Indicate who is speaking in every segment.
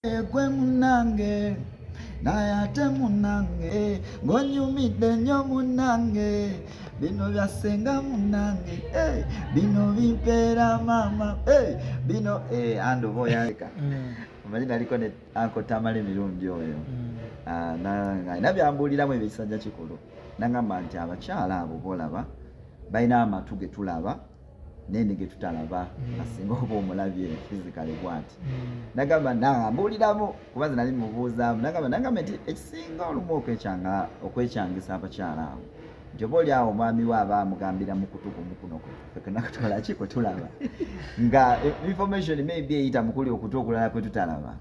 Speaker 1: egwe munange naye ate munange ngonyumidde nnyo munange bino bya ssenga munange eh, bino bimpeera maama eh, bino eh, andi oba oyaleka mm. omanyi naliko ne ankotamala emirundi oyo mm. ah, nalina byambuuliramu ebisajja kikulu nagamba nti abakyala abo bolaba balina amatu getulaba naye ne getutalaba mm. asinga oba omulabye fizikale bwati mm. nagamba nambuuliramu kuba ze nali mubuuzaamu nagamba nagamba nti ekisinga olumu okwekyanga okwekyangisa abakyala abo nti oba oli awo omwami we aba amugambira mukutu kumukuno kwekenakutwala ki kwetulaba nga information maybe eyita mukuli okutu okulala kwetutalaba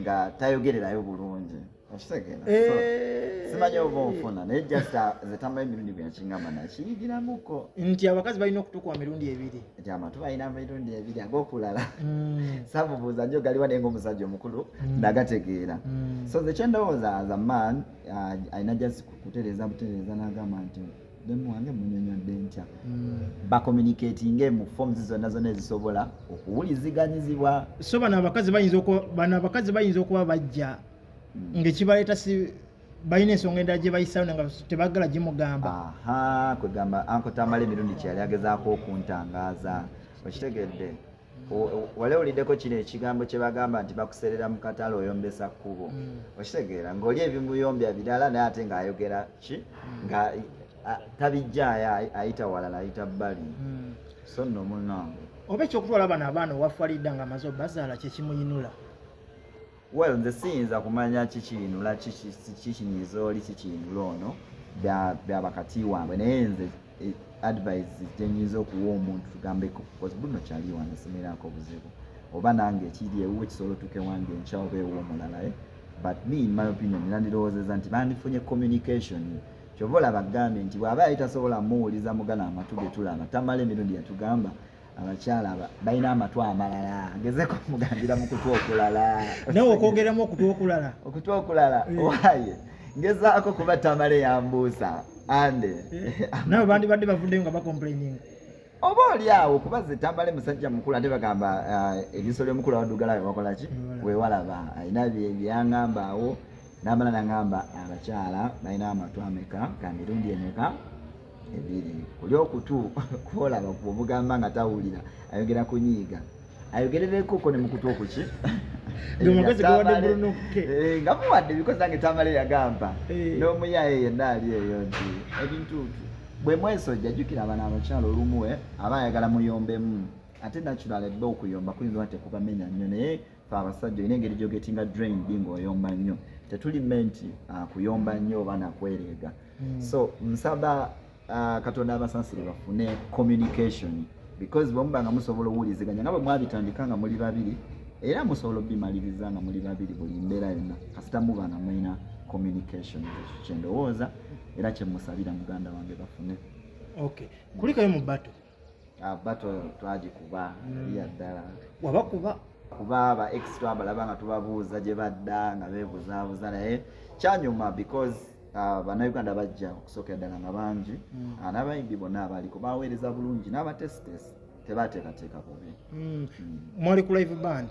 Speaker 1: nga tayogererayo bulungi okitegeera eh. simanyi oba onfuna naye just uh, zetambayo emirundi bweyakingamba nakiyigiramuko nti abakazi balina
Speaker 2: okutukuwa mirundi ebiri nti amatu balina
Speaker 1: mirundi ebiri agokulala mm. samubuuza nyo galiwa naye ngaomusajja omukulu mm. nagategeera mm. so zekyendowooza as a man uh, alina just kutereeza butereeza nagamba nti wange munyonyodde ntya hmm. bacommunicatinge mu forms zonna zonna ezisobola okuwuliziganyizibwa so bano abakazi
Speaker 2: bayinza bano abakazi bayinza okuba bajja hmm. ngaekibaleeta si balina ensonga endala gye bayisawo nga tebagala gimugamba kwegamba
Speaker 1: ankotambala emirundi kyeyali agezaako okuntangaaza okitegedde wali owuliddeko kino ekigambo kye bagamba nti bakuserera mu katale oyombesa kkubo mm. okitegeera ng'oli ebimuyombya birala naye ate ng'ayogera ki mm. nga tabijjaayo ayita walala ayita bbali mm. so nno munange oba ekyokutwala bano
Speaker 2: abaana owafwalidda nga amaze obazaala kyekimuyinula
Speaker 1: well nze siyinza kumanya kikinula kikinyiza oli kikinula ono byabakati wange naye nze e, advise gyenyinza okuwa omuntu tugambeko bcoz buno kyali wange simirako obuzibu oba nange ekiri ewu ekisobola otuke wange enkya oba ewu omulalaye eh? but me in my opinion nandirowoozeza nti bandifunye communication kyova olaba agambye nti bwaba yali tasobola muwuliza mugana amatu getulaba tamala emirundi yatugamba abakyala balina amatu amalala gezeko mugambira mu kutu okulala nawe okwogeramu
Speaker 2: okutu okulala okutu
Speaker 1: okulala eh. waye ngezaako kuba tamale yambuusa ande eh. nawe
Speaker 2: bandibadde bavuddeyo nga bacomplaininga oba oli
Speaker 1: awo kuba zetambale musajja mukulu ate bagamba eh, eriiso lyomukulu awadugala wewakola ki wewalaba alina byeyangamba awo namala nangamba abakyala balina amatu ameka kamirundi emeka ebiri oli okutu kwolaba kwomugamba nga tawulira ayogera kunyiiga ayogerereko ko nemukutu okuki
Speaker 2: nga muwadde
Speaker 1: bikozi nange tamale yagamba eh. n'omuyaye yenna ali eyo nti ebintuutu bwe mwesojja jjukira abana abakyalo olumu eh, aba ayagala muyombemu ate natural ebba okuyomba kuyinza oba tekubamenya nnyo naye fe abasajja olina engeri gyogetinga drain bi ng'oyomba nnyo tetuli menti ah, kuyomba nnyo oba nakwereega mm. so nsaba uh, katonda abasansire bafune communication because bwemuba nga musobola owuliziganya nga bwe mwabitandika nga muli babiri era musobola obimaliriza nga muli babiri buli mbeera yonna kasita muba nga mulina communication kyendowooza era kyemusabira muganda wange bafune okay
Speaker 2: kulikayo mu bato ah, bato twagikuba
Speaker 1: yali yaddala wabakuba kuba aba ex twabalaba nga tubabuuza gye badda nga beebuzaabuza naye kyanyuma because ah, bannayuganda bajja okusookera ddala nga bangi hmm. ah, n'abayimbi bonna abaliko baweereza bulungi n'abatesitesi tebateekateeka bubi hmm. Hmm. mwali
Speaker 2: ku live band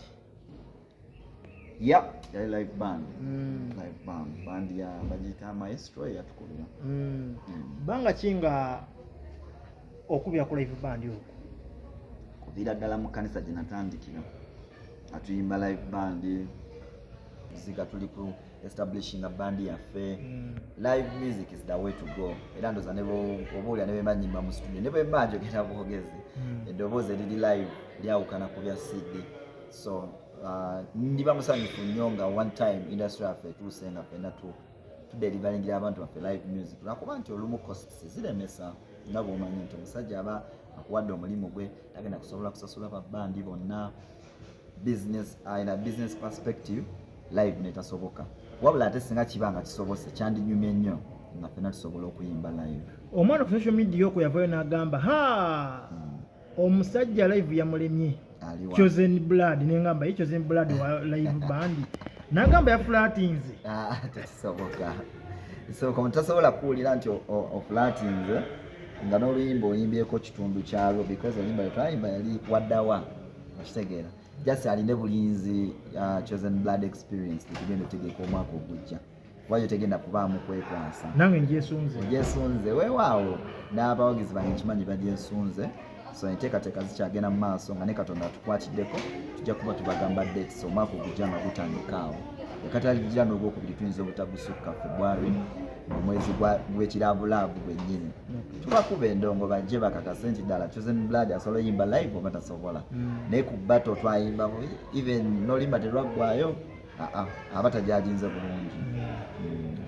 Speaker 2: Yep,
Speaker 1: yali live band. Mm. Live band. Band ya bajita maestro ya tukubira. Mm. Mm.
Speaker 2: Banga kinga okubira ku live band yo. Kubira
Speaker 1: dala mu kanisa jinatandikira. Atuyimba live band. Zika tuli ku establishing a band yaffe mm. live music is the way to go era ndoza obuulira ne bemanyimba mu studio ne bwemba njogera bwogezi mm. eddoboozi eriri live lyawukana ku bya cd so uh, ndiba musanyufu nnyo nga one time industry yaffe etuuse nga fena tu tudelivalingira abantu baffe live music lwakuba nti olumu costs ziremesa nga bwomanyi nti omusajja aba akuwadde omulimu gwe tagenda kusobola kusasula babandi bonna business ayina uh, business perspective live netasoboka wabula ate singa kiba nga kisobose kyandinyumye nnyo nga fena tusobola okuyimba live omwana ku social media
Speaker 2: okwo yavayo n'agamba ha hmm. omusajja live yamulemye chosen blood nengamba ye chosen blood wa live band nagamba yafulatinze ah, tekisoboka
Speaker 1: soka mutasobola kuwulira nti ofulatinze nga n'oluyimba oyimbyeko kitundu kyalwo because oluyimba lwetwayimba yali waddawa okitegeera just aline bulinzi uh, chosen blood experience tekigenda otegeka omwaka ogujja kuba yo tegenda kubaamu kwekwansa nange njesunze
Speaker 2: njesunze
Speaker 1: weewaawo n'abawagizi bange nkimanyi bagyesunze so enteekateeka zikyagenda mu maaso nga ne katonda atukwatiddeko tujja kuba tubagamba dates omwaka ogujja nga gutandika awo ekataligira n'ogwokubiri tuyinza obutagusukka february mu mwezi gwekirabulaavu gwennyini tubakuba endongo bajje bakakase nti ddala chosen blood asobola oyimba live oba tasobola mm. naye ku bato twayimba even nolimba terwaggwayo aba tajaginze bulungi. Mm.